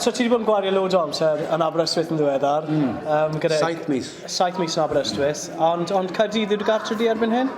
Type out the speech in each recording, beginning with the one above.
So ti wedi bod yn gwario loads o amser yn Aberystwyth yn ddiweddar. Mm. Um, gyda... Saith mis. Saith mis yn Aberystwyth. Mm. Ond, ond Caerdydd yw'r gartre di erbyn hyn?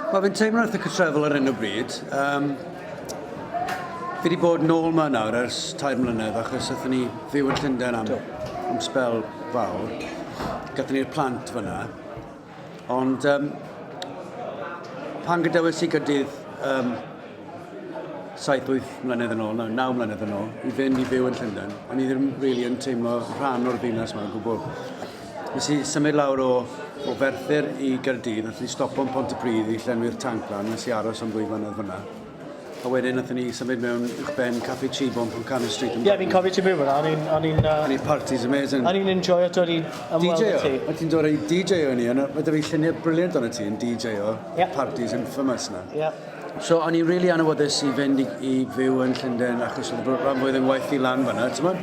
Wel, fi'n teimlo wrth y cytrefol ar un o bryd. Um, fi wedi bod nôl yma nawr ers tair mlynedd achos ydyn ni fyw yn Llundain am, am spel fawr. Gathen ni'r plant fyna. Ond um, pan gadewes i gydydd um, 7-8 mlynedd yn ôl, no, 9 mlynedd yn ôl, i fynd i fyw yn Llundain, o'n i ddim rili really yn teimlo rhan o'r ddinas mae'n gwbl. Nes i symud lawr o, o Ferthyr i Gyrdydd, nes i stopo yn Pont y Pryd i llenwi'r tanc lan, nes i aros am ddwy flynedd fyna. A wedyn nathon ni symud mewn i'ch ben Caffi Chibon pan Cannon Street yn... Ie, fi'n cofio ti byw yna, o'n i'n... O'n i'n... O'n i'n parties amazing. O'n i'n enjoyo dod i ymweld â ti. O't ti'n dod i DJ o'n i, a ma' da fi lluniau brilliant o'n ti yn DJ o yeah. parties infamous na. Yeah. So o'n i'n really anwyddus i fynd i, i fyw yn Llundain achos oedd y rhan fwyaf yn waith i lan fanna, ti'n mwyn?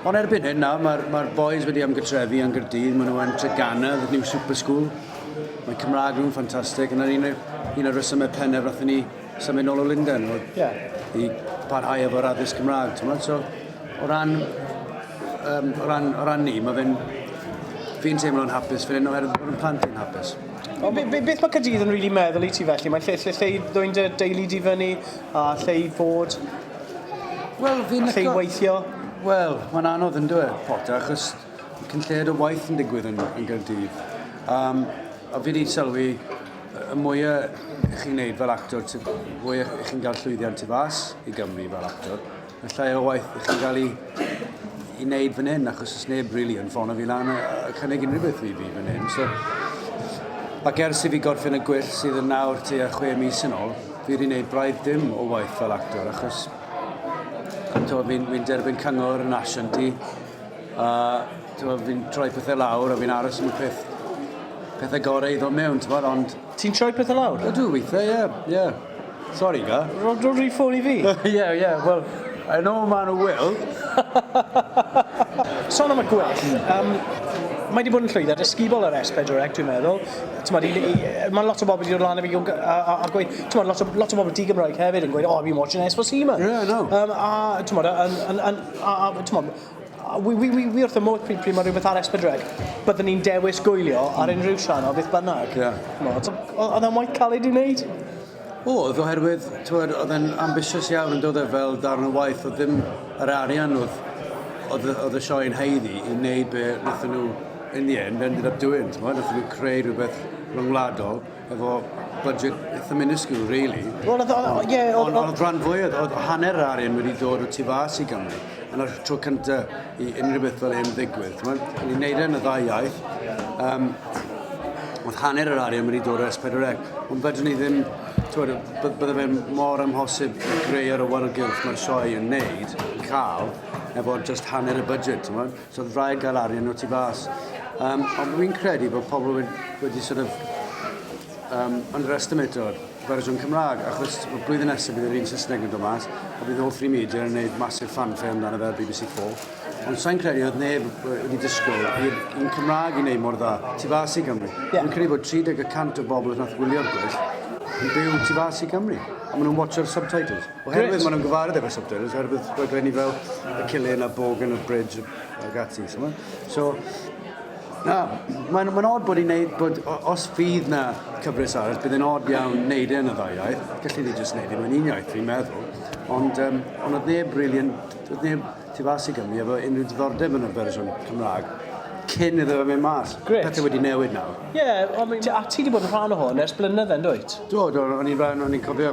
Ond erbyn hyn nawr, mae'r ma boys wedi ymgytrefu yn Gyrdydd, maen nhw yn Treganna, the new super school. Mae Cymraeg nhw'n ffantastig, yna'n un, un o'r resymau pennaf roedd ni symud nôl o Lundain, oedd yeah. i parhau efo'r addysg Cymraeg, ti'n meddwl? So, o ran, um, o ran, o ran ni, mae fe'n, fi'n teimlo'n hapus, fi'n enw oherwydd bod yn plant yn hapus. O, be, be, beth mae Cadydd yn rili really meddwl i ti felly? Mae'n lle, lle, lle i ddwy'n dy deulu di fyny, a lle i fod, well, fi'n lle i weithio? Wel, mae'n anodd yn dweud, Potter, achos Cyn lleied o waith yn digwydd yn yn Gaerdydd. Um, a fi wedi sylwi, y mwya chi'n neud fel actor, y mwya chi'n cael llwyddiant tu fas i Gymru fel actor, y llai o waith chi'n cael ei, i wneud fan hyn, achos os neb really yn ffono fi lan a, a cynnig unrhyw beth i fi fan hyn. So, ac ers i fi gorffen y gwyll sydd yn nawr tu a chwe mis yn ôl, fi wedi gwneud braidd dim o waith fel actor, achos fi'n fi derbyn cyngor yn asiant i, A t'mod fi'n troi pethe lawr a fi'n aros am y peth pethe gore i ddod mewn t'mod ond... Ti'n troi pethe lawr? Ydw withe ie ie. Sori ga? Ro- roi dy ffôn i fi. Ie ie wel I know ma' n'w will. Son am y gwell yym mae 'di bod yn llwyddiant ysgubol yr S4C dwi'n meddwl t'mod i i yy ma' lot o bobl 'di dod lan i fi gw- gy- a a a gweud t'mod lot o lot o bobl di-Gymraeg hefyd yn gweud oh I've been watching S4C man. Yeah I know. Yym a t'mod a yn yn yn A, a t'mo', wi wi wi wi wrth fy modd pryd pryd ma' rhywbeth ar Esbydreg, byddwn i'n dewis gwylio ar hmm. unrhyw sian o beth bynnag. Ie. T'mo', t- o- o'dd e'n waith caled i wneud? Oedd, oherwydd, t'mod, oedd e'n ambitious iawn yn dod e fel darn o waith, oedd ddim yr arian oedd, oedd, oedd y sioe'n heiddi i wneud be wnaethon nhw in the end ended up doing, t'mod, wnaethon nhw creu rhywbeth rhyngwladol. efo budget eitha minuscule, really. Wel, oedd, o, ie... Ond oedd rhan fwyaf, oedd hanner yr arian wedi dod o tu fas i Gymru. Yn o'r tro cynta i unrhyw beth fel hyn ddigwydd. Ni'n neud e yn y ddau iaith. Um, oedd hanner yr arian wedi dod o S4C. Ond fydden ni ddim... Twyd, bydde fe'n mor amhosib i greu ar y wargylch mae'r sioe yn neud, cael, efo just hanner y budget, ti'n So oedd rhaid cael arian o tu fas. Um, ond dwi'n credu bod pobl wedi, wedi sort of um, underestimato'r fersiwn Cymraeg, achos y blwyddyn nesaf bydd yr un Saesneg yn dod mas, a bydd all three media yn gwneud masif fanfare amdano fe ar BBC 4. Ond sa'n credu oedd neb wedi disgwyl i'r un Cymraeg i wneud mor dda, tu fas i Gymru. Yeah. Ond credu bod 30 y cant o bobl yn nath gwylio'r gwell yn byw tu fas i Gymru, a maen nhw'n watcho'r subtitles. Oherwydd maen nhw'n gyfarwydd efo'r subtitles, oherwydd rhaglenni fel y Cillian a Bogan a Bridge a Gatsi. So, so na, mae'n ma od bod i'n neud, bod, os fydd na cyfres arall, bydd yn od iawn neud e yn y ddau iaith. Gallu ni jyst neud e mewn un iaith, fi'n meddwl. Ond, um, ond oedd neb really yn, oedd neb tu fas i Gymru efo unrhyw diddordeb yn y fersiwn Cymraeg cyn iddo fe mynd mas. Gret. Pethau wedi newid nawr. Ie, yeah, a ti wedi bod yn rhan o hwn ers blynydde, yn dwyt? Do, do, o'n i'n rhan, o'n i'n cofio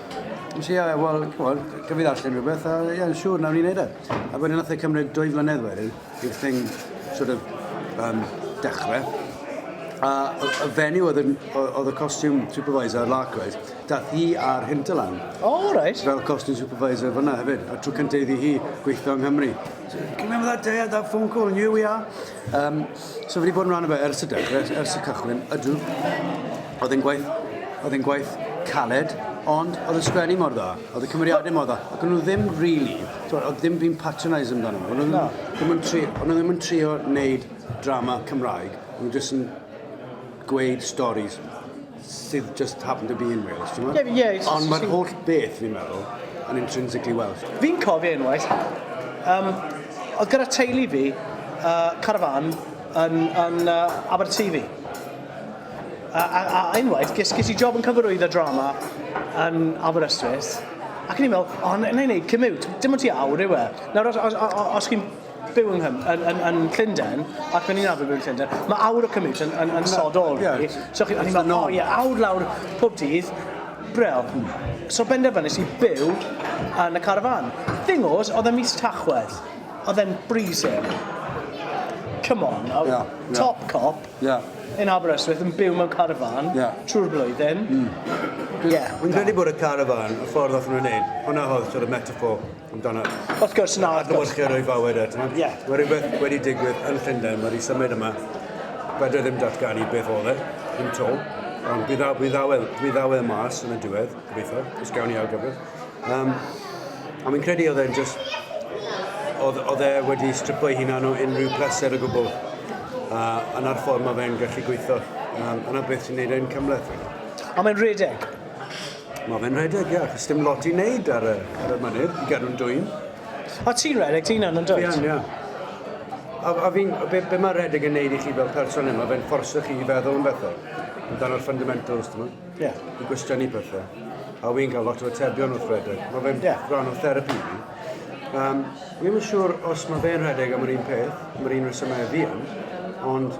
Nes i, uh, wel, ch'mod, gaf fi ddarllen rhywbeth, a ie, yn siŵr, nawr ni'n neud e. A wedyn nath e cymryd dwy flynedd wedyn i'r thing sort of um, dechre. A y fenyw oedd, yn, oedd y costume supervisor ar Larkwright, dath hi ar Hinterland. O, oh, reit. Fel costume supervisor fyna hefyd, a trwy cyntaf iddi hi gweithio yng Nghymru. So, can you remember that day I had that phone call and here we are? Um, so fi wedi bod yn rhan o fe ers y dechrau, ers, ers y cychwyn, ydw. Oedd e'n gwaith, oedd e'n gwaith caled, ond oedd y sgwennu mor dda, oedd y cymeriadau mor dda, ac o'n nhw ddim really, oedd ddim fi'n patronise amdano nhw, o'n nhw ddim yn tri, o'n nhw ddim yn trio wneud drama Cymraeg, o'n nhw jyst yn gweud stories. sydd just happen to be in Wales, ti'n gwybod? Ie, ie. Ond mae'r holl beth, fi'n meddwl, yn intrinsically Welsh. Fi'n cofio unwaith, um, oedd gyda teulu fi uh, carafan yn, yn uh, Aberteifi. A, a, a unwaith, ges, ges i job yn cyfarwydd y drama yn Aberystwyth, ac yn i'n meddwl, o, oh, na i wneud commute, dim ond ti awr yw e. Nawr, os, os, os, os chi'n byw yng Nghymru, yn, yn, yn Llundain, ac o'n i'n arfer byw yn Llundain, mae awr o commute yn, yn, yn no, sod ôl yeah. fi. So chi, o'n i'n meddwl, oh, yeah, awr lawr pob dydd, brel. So benderfynus i byw yn y carafan. Thing oes, oedd e mis tachwedd. Oedd e'n breezing. Come on, yeah, yeah. top cop. Yeah yn Aberystwyth yn byw mewn carafan yeah. trwy'r blwyddyn. Mm. Yeah, Wy'n credu bod y carafan, y ffordd oedd nhw'n gwneud, hwnna oedd sort of metaphor amdano. Wrth gwrs, na. Adlewyrchu roi fawr at. Ie. Mae rhywbeth wedi digwydd yn Llundain, mae wedi symud yma. Bydde ddim datganu beth oedd e, yn to. Ond bydd ddaw, bydd ddaw, bydd ddaw e mas yn y diwedd, gobeithio, os gawn ni argyfrif. Um, a mi'n credu oedd e'n just... Oedd, oedd e wedi stripo ei hunan o unrhyw pleser o gwbl. A yna'r ffordd mae fe'n gallu gweithio. Um, yna beth sy'n neud e'n cymleth. A mae'n rhedeg. Mae fe'n rhedeg, ia, achos dim lot i wneud ar y, ar y mynydd, i gadw'n dwyn. O, ti'n rhedeg ti'n annan dwyd? Fi'n, ia. A, a fi'n, be, be mae rhedeg yn neud i chi fel person yma, fe'n fforsio chi i feddwl yn bethau. Yn dan o'r fundamentals, dyma. Ie. Yeah. I gwestiynnu pethau. A fi'n cael lot o atebion wrth rhedeg. Mae fe'n yeah. rhan o therapi fi. Um, fi'n yn siŵr os mae fe'n rhedeg am yr un peth, am yr un resymau fi yn, ond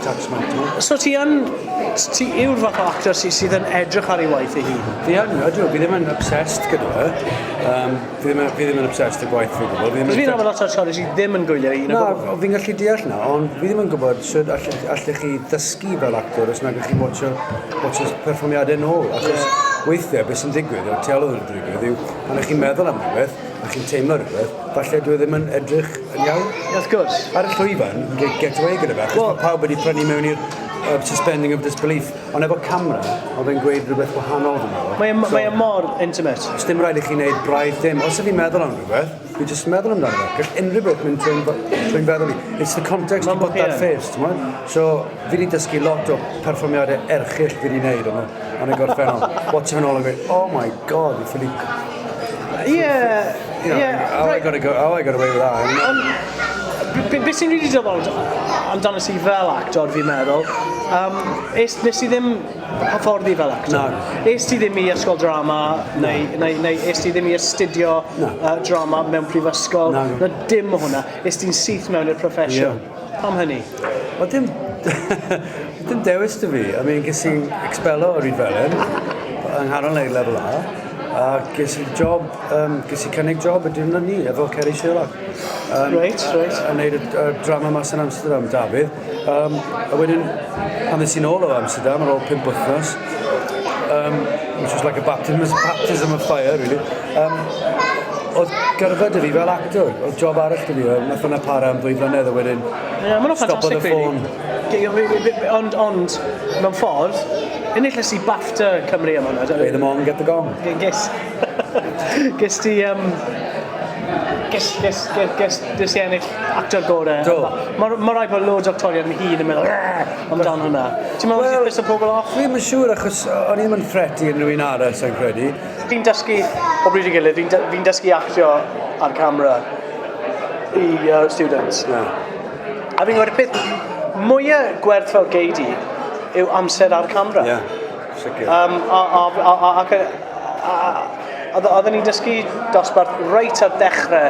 That's my job. So ti yn... Ti yw'r fath o actor sy, sydd yn edrych ar ei waith ei hun? Fi yn, ydw. Fi ddim yn obsessed gyda fe. Um, fi, ddim, fi ddim yn obsessed y gwaith fi gwybod. Fi ddim yn lot o actores sydd ddim yn gwylio un o gwbl. Na, fi'n gallu deall na, ond fi ddim yn gwybod sut allech, allech chi ddysgu fel actor os nag ych chi'n watcho, watcho perfformiadau nôl. Achos weithiau beth sy'n digwydd o'r teolwg yn digwydd yw pan ych chi'n meddwl am rhywbeth a chi'n teimlo rhywbeth, Falle dwi ddim yn edrych yn iawn. Wrth gwrs. Ar y llwyfan, get, get away gyda fe, achos well, mae pawb wedi prynu mewn i'r uh, suspending of disbelief. Ond efo camera, oedd e'n gweud rhywbeth wahanol dwi'n meddwl. Mae, so, mae e mor intimate. Os dim rhaid i chi wneud braidd dim. Os ydych chi'n meddwl am rhywbeth, fi jyst meddwl amdano fe. Gall unrhyw beth mynd trwy'n trwy feddwl i. It's the context you put that face, ti'n mwyn? So, fi wedi dysgu lot o perfformiadau erchill fi wedi wneud yma, yn y gorffennol. Watch yn ôl yn gweud, oh my god, fi ffili Yeah, you know, yeah. How right. I gotta go? How I got away with that? Um, be, be sy'n rili dyfod amdano si fel actor, fi'n meddwl, um, es, nes i ddim hyfforddi fel actor. No. Es ti ddim i ysgol drama, no. neu, neu, neu es ti ddim i astudio no. uh, drama mewn prifysgol. No. Na dim o hwnna. Es ti'n syth mewn i'r profesiwn. Yeah. Pam hynny? Wel dim dim dewis 'da fi. I mean, ges i expello o Rhyd Felen yng nghanol ei lefel A, a ges i job, um, ges i cynnig job y diwrnod ni efo Ceri Sherlock. Um, Reit, reit. A wneud y, y drama mas yn Amsterdam, Dafydd. Um, a wedyn, pan ddys i'n ôl o Amsterdam ar ôl pimp wythnos, um, which was like a baptism, baptism of fire, really, Um, oedd gyrfa dy fi fel actor, oedd job arall dy fi, nath hwnna para am ddwy flynedd a wedyn yeah, mae'n ffantastig ffôn. Ond, ond, mewn ffordd, enillais i BAFTA Cymru am hwnna. Play them on, get the gong. Ges, ges ti, um, ges, ges, ges, ges, ges ti ennill actor gore. Do. Mae ma rai bod loads actorion yn hun yn meddwl, amdan hwnna. Ti'n meddwl well, beth o pobl off? Fi'n siŵr achos o'n i'n mynd ffreti yn rhywun arall, sy'n credu. Fi'n dysgu o bryd i gilydd, fi'n dy- fi'n dysgu actio ar camera i yy students. Ie. A fi'n gwel' y peth mwya gwerthfawr gei di yw amser ar camera. Ie, sicir. Yym a a f- a a ac yy a a a a odd o- odden ni'n dysgu dosbarth reit ar dechre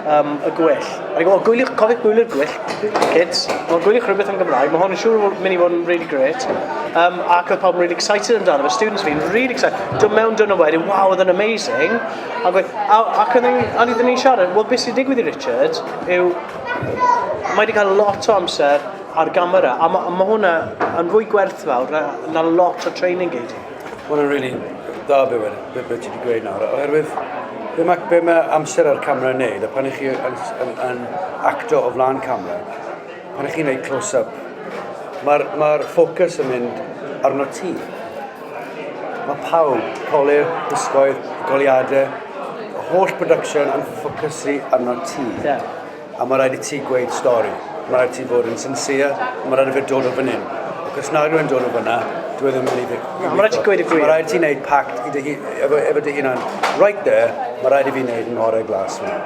yym y gweill. O'n i'n gwybod, gwyliwch, cofiwch gwyliwr gwyllt, kids. Wel, gwyliwch rhywbeth yn Gymraeg. Mae hwn yn siŵr fod mynd i fod yn really great. Um, ac oedd pawb yn really excited amdano fe. Students fi'n really excited. Dwi'n mewn dyn nhw wedyn, wow, oedd yn amazing. Ac, ac, ac oedd yn ni'n siarad, wel, beth sy'n digwydd i Richard yw, mae wedi cael lot o amser ar gamera, a mae ma hwnna yn fwy gwerthfawr na, na lot o training gyd. Mae hwnna'n rili dda be wedi, be, be ti wedi gweud nawr, oherwydd be mae, be mae amser ar camera yn neud, a pan ych chi yn, yn, yn acto o flaen camera, pan ych chi'n neud close-up, mae'r ma ffocws yn mynd arno ti. Mae pawb, colir, gwisgoedd, goliadau, y holl production yn ffocysu arno ti. Yeah. A mae rhaid i ti gweud stori. Mae rhaid i ti fod yn sincere. Mae rhaid i fe dod o fan hyn. Ac os na rhywun dod o fanna, dwi e ddim yn mynd i fi. Na, mae rhaid ti gweud y gwir. Mae rhaid ti wneud pact i dy efo, efo dy hunan. Right there, mae rhaid i fi wneud yn ngorau glas hwnna.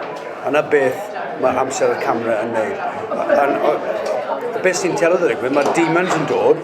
A na beth mae amser y camera yn wneud. A, a, a, a beth sy'n telodd yr egwydd, mae demons yn dod,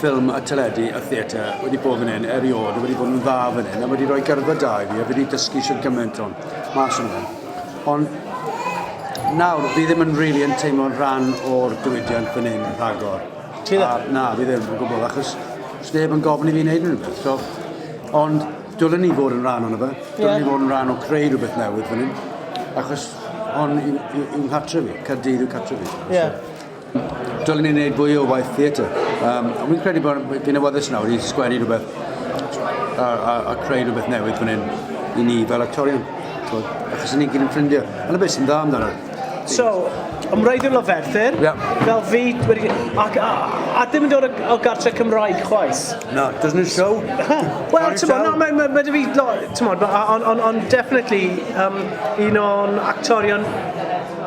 ffilm a teledu a theatr wedi bod fan hyn erioed a wedi bod yn dda fan hyn a wedi rhoi gyrfa da i fi a fi wedi dysgu sy'n gymaint o'n mas o'n hyn. Ond nawr fi ddim yn really yn teimlo'n rhan o'r diwydiant fan hyn rhagor. Ti ddim? A, na, fi ddim yn gwybod achos sneb yn gofyn i fi wneud rhywbeth. So, ond dylen ni fod yn rhan o'n fe. Dylen yeah. ni fod yn rhan o creu rhywbeth newydd fan hyn. Achos hon yw, yw, yw cartre fi. Caerdydd yw cartre fi. Yeah. So, Dylen ni wneud fwy o waith theatr. Um, a fi'n credu bod fi'n awyddus nawr i sgwennu rhywbeth a, a, a creu rhywbeth newydd fan hyn i ni fel actorion. Achos ni'n gyd yn ffrindiau. Yna beth sy'n dda amdano. So, am rhaid yn lyferthyr, yeah. fel fi, wedi, a, a, a ddim yn dod o gartre Cymraeg chwaith. No, doesn't it show? Wel, ti'n bod, no, mae ma, ma, fi, no, ti'n bod, on, on, on definitely um, un o'n actorion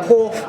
hoff